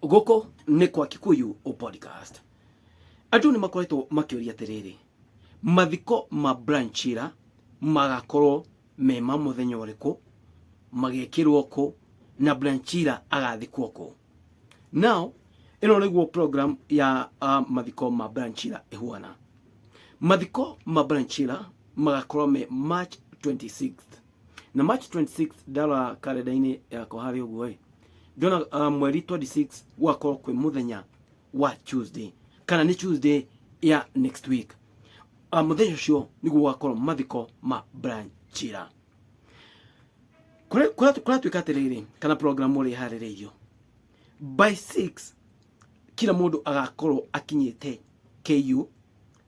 Gũkũ nĩ kwa Kikuyu podcast. Andũ nĩ makoretwo makĩũria atĩrĩrĩ, mathiko ma Brian Chira magakorwo me ma mũthenya ũrĩkũ, magekĩrwo kũ na Brian Chira agathikwo kũ? Now, ĩno nĩguo program ya uh, mathiko ma Brian Chira ĩhuana. Mathiko ma Brian Chira magakorwo me March 26th. na march 26 ndara karenda-inĩ yakwa harĩ ũguo ĩ ndona uh, mweri 26 gwakorwo kwĩ mũthenya wa tuesday kana nĩ tuesday ya next week uh, mũthenya ũcio nĩguo gwakorwo mathiko ma brian chira kũratuĩka atĩrĩrĩ kana programu ũrĩa harĩrĩirio by 6 kila mũndũ agakorwo akinyĩte KU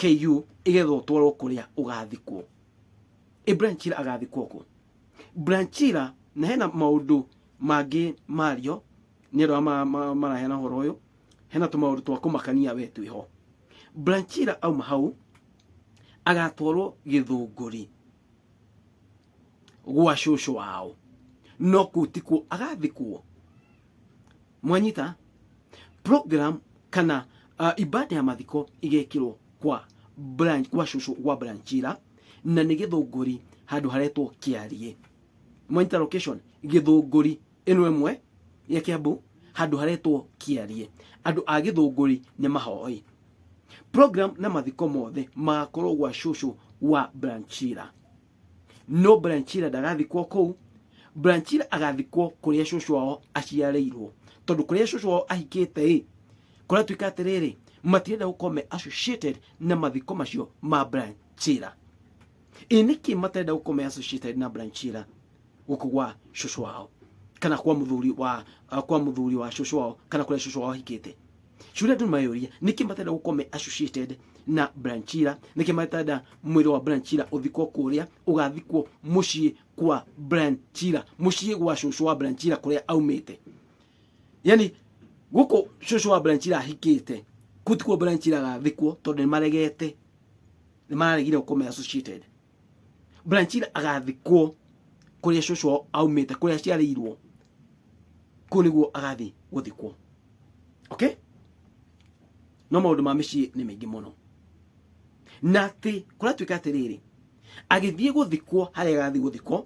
KU igetha ũtwarwo kũrĩa ũgathikwo. Ĩ Branchira agathikwo kũ? Branchira na hena maũndũ mangĩ mario nĩ andũ arĩa maraheana ũhoro ũyũ, hena tũmaũndũ twa kũmakania we twĩ ho. Branchira auma hau agatwarwo gĩthũngũri gwa cũcũ wao, no kũu tikuo agathikwo. mwanyita program kana uh, ibada ya mathiko igekirwo kwa branch kwa shushu kwa branchira na nĩ gĩthũngũri handũ haretwo kĩarie mwanyita location gĩthũngũri ĩno ĩmwe ya kĩambu handũ haretwo kĩarie andũ a gĩthũngũri nĩ mahoi program na mathiko mothe magakorwo gwa shushu wa branchira no branchira ndagathikwo kũu branchira agathikwo kũrĩa cũcũ wao aciarĩirwo tondũ kũrĩa cũcũ wao ahikĩte ĩ kũratuĩka atĩrĩrĩ matirenda gũkorwo me associated na mathiko macio ma branchira ĩ nĩkĩ matarenda gũkorwo me associated na branchira gũkũ gwa cũcũ wao kana kwa mũthuri wa uh, kwa mũthuri wa cũcũ wao kana kũrĩa cũcũ wao ahikĩte Shule tu mayũria nĩkĩ matenda gũkorwo me associated na Branchira nĩkĩ matenda mwĩrĩ wa Branchira ũthikwo kũrĩa ũgathikwo mũciĩ kwa Branchira mũciĩ gwa cũcũ wa Branchira kũrĩa aumĩte yani gũkũ cũcũ wa Branchira ahikĩte kutikuo Branchira agathikwo tondũ nĩmaregete nĩmaregire gũkorwo me associated Brian Chira agathikwo kũrĩa cũcũ wao aumĩte kũrĩa aciarĩirwo kũu nĩguo agathiĩ gũthikwo okay no maũndũ ma mĩciĩ nĩ maingĩ mũno na atĩ kũratuĩka atĩrĩrĩ agĩthiĩ gũthikwo harĩa agathiĩ gũthikwo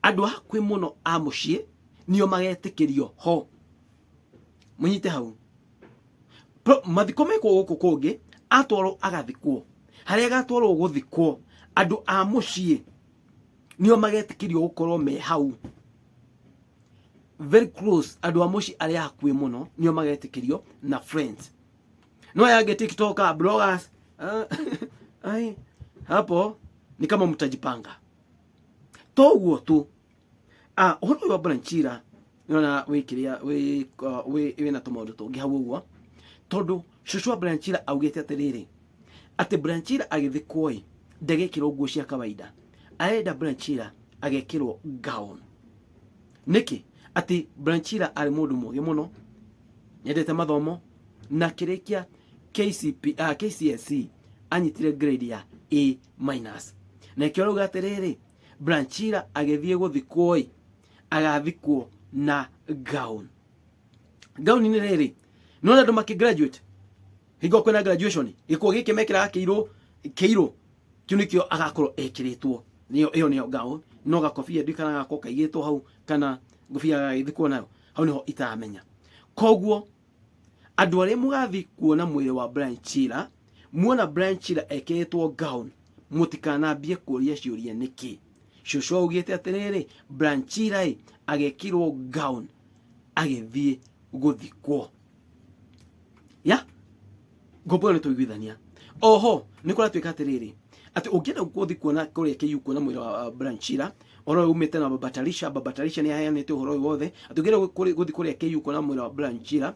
andũ a hakuhĩ mũno a mũciĩ nio magetĩkĩrio ho munyite hau Pro- mathiko mekwo gũkũ kũngĩ atwarwo agathikwo harĩa agatwarwo gũthikwo andũ a mũciĩ nĩo magetĩkĩrio gũkorwo me hau very close andũ a mũciĩ arĩa hakuĩ mũno nĩo magetĩkĩrio na friends no yange tiktoka bloggers ah, ai hapo ni kama mtajipanga toguo tu Ah, uhoro uyu wa Branchira nona wi kiria wi uh, wi wina tumaundu tungi hau uguo tondu cucu wa Branchira augite atiriri ati Branchira agithikwo i ndegekirwo nguo cia kawaida arenda Branchira agekirwo gown niki ati Branchira ari mundu mugi muno nyendete mathomo na kirikia KCP uh, ah, KCSE anyitire grade ya A minus na ikio rauga atiriri Branchira agĩthiĩ gũthikwo-ĩ, agathikwo na gown. Gown-inĩ rĩrĩ, nĩwona andũ makĩ-graduate, hingo kwĩna graduation, gĩkuo gĩkĩ mekĩraga kĩirũ, kĩirũ, kĩu nĩkĩo agakorwo ekĩrĩtwo, nĩyo, ĩyo nĩyo gown, no gakobia ndiũĩ kana gagakorwo kaigĩtwo hau, kana ngobia agagĩthikwo nayo, hau nĩho itaramenya. Kuoguo, andũ arĩa mũgathiĩ kuona mwĩrĩ wa Branchira. muona Brian Chira ekĩrĩtwo gown mũtikanambie kũria ciũria nĩkĩ cũcũ augĩte atĩrĩrĩ Brian Chira ĩ agekĩrwo gown agĩthiĩ gũthikwo ya ngombo ĩyo nĩ tũiguithania oho nĩ kũratuĩka atĩrĩrĩ atĩ ũngĩenda gũthiĩ kuona kũrĩa KU kuona mwĩra wa uh, Brian Chira ũhoro ũyũ umĩte na Baba Tarisha Baba Tarisha nĩ aheanĩte ũhoro ũyũ wothe atĩ ũngĩenda gũthiĩ kũrĩa KU kuona mwĩra wa Brian Chira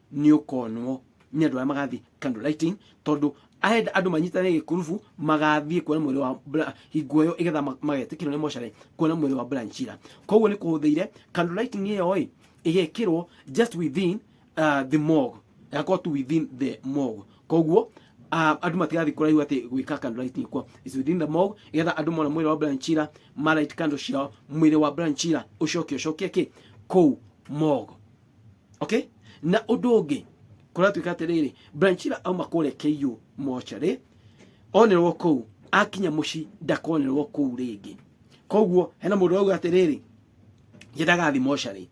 nĩ ũkonwo nĩ andũ arĩa magathiĩ candle lighting tondũ arenda andũ manyitane gĩkurubu magathiĩ kuona mwĩrĩ wa Bra- hingo ĩyo igetha ma- magetĩkĩrwo nĩ mocarĩ kuona mwĩrĩ wa Brian Chira koguo nĩ kũhũthĩire candle lighting ĩyo ĩ ĩgekĩrwo just within uh, the morgue ĩgakorwo tu within the morgue koguo uh, andũ matigathiĩ kũraihu atĩ gwĩka candle lighting kwa is within the morgue igetha andũ mona mwĩrĩ wa Brian Chira ma light candle ciao mwĩrĩ wa Brian Chira ũcoke ũcokie kĩ kũu morgue okay na undu ungi kuratuika atiriri branchira auma kure KU mochari onerwo kuu akinya muci ndakonerwo kuu ringi koguo hena mundu auga atiriri ye ndagathi mochari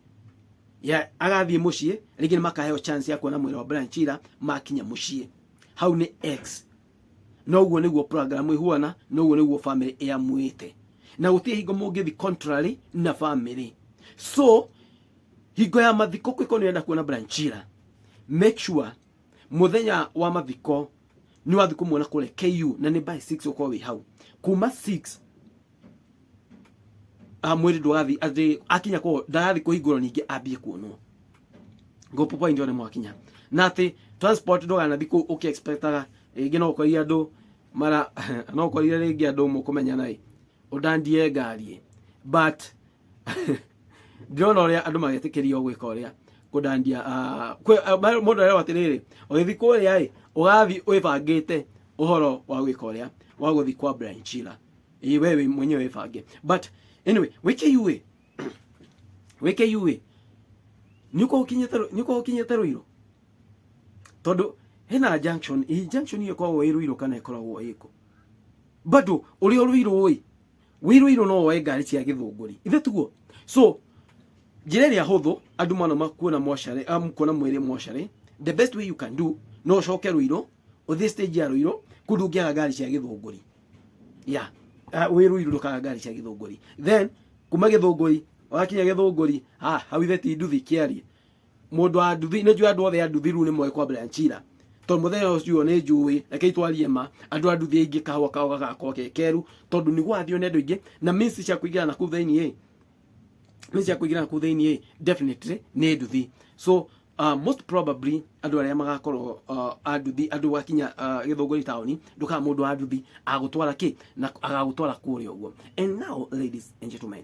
ya agathie muciĩ rĩngĩ nĩ makaheo chance ya kuona mwĩra wa Brian Chira makinya muciĩ hau nĩ x na ũguo nĩguo program ĩhuana na ũguo nĩguo family ĩamwĩte na gũtirĩ hingo mũngĩthi contrary na family so hingo ya mathiko kwiko nĩenda kuona branchira make sure muthenya wa mathiko ni wathi kumuona kule KU na ni by 6 uko wi hau kuma 6 a mwiri ndwathi ati akinya ko ndagathi kuhingurwo ningi ambie kuonwo go popo ndio ne mwakinya na ati transport nduganathi ku uki expectaga ringi no ukoria andu mara no ukoria ringi andu mukumenyana i ũndandie ngariĩ but ndĩrona ũrĩa andũ magetĩkĩrio gwĩka ũrĩa kũndandia ah, kwĩ- ah, ma- mũndũ arerwo atĩrĩrĩ ũgĩthi kũrĩa ĩ ũgathi wĩbangĩte ũhoro wa gwĩka ũrĩa wa gũthi kwa Brian Chila Ĩ, we wĩ mwenyewe wĩbange but anyway wĩke iuĩ wĩke iuĩ nĩũkorwo ũkinyĩte Rũ- nĩũkorwo ũkinyĩte rũirũ tondũ hena junction ĩ junction ĩyo ĩkoragwo ĩ rũirũ kana ĩkoragwo ĩkũ bado uri uri roi wiru iru no oe ngari cia githunguri ithe tuguo so njira ria huthu andu mano makuona moshare am kuona mwiri moshare the best way you can do no shoke ruiro uthi stage ya ruiro kundu ngiaga ngari cia githunguri ya yeah. uh, wiru iru ndukaga ngari cia githunguri then kuma githunguri wakinya githunguri ha hau ithe ti nduthi kiarie Mũndũ wa nduthi, nĩ njũĩ andũ othe a nduthi rĩu nĩ moĩ kwa Brian Chira. Tondũ mũthenya ũcio nĩ njũĩ, rekei twarie ma, andũ a nduthi aingĩ kahũa kao gagakorwo ge keru, tondũ nĩ gũrathio nĩ andũ aingĩ, na means cia kũingĩra nakũu thĩinĩ-ĩ, means cia kũingĩra nakũu thĩinĩ-ĩ, definitely nĩ nduthi. So, most probably andũ arĩa magakorwo a nduthi, andũ gwakinya Gĩthũngũri taũni, ndũkaga mũndũ wa nduthi agagũtwara kĩ? Agagũtwara kũrĩa ũguo. And now, ladies and gentlemen,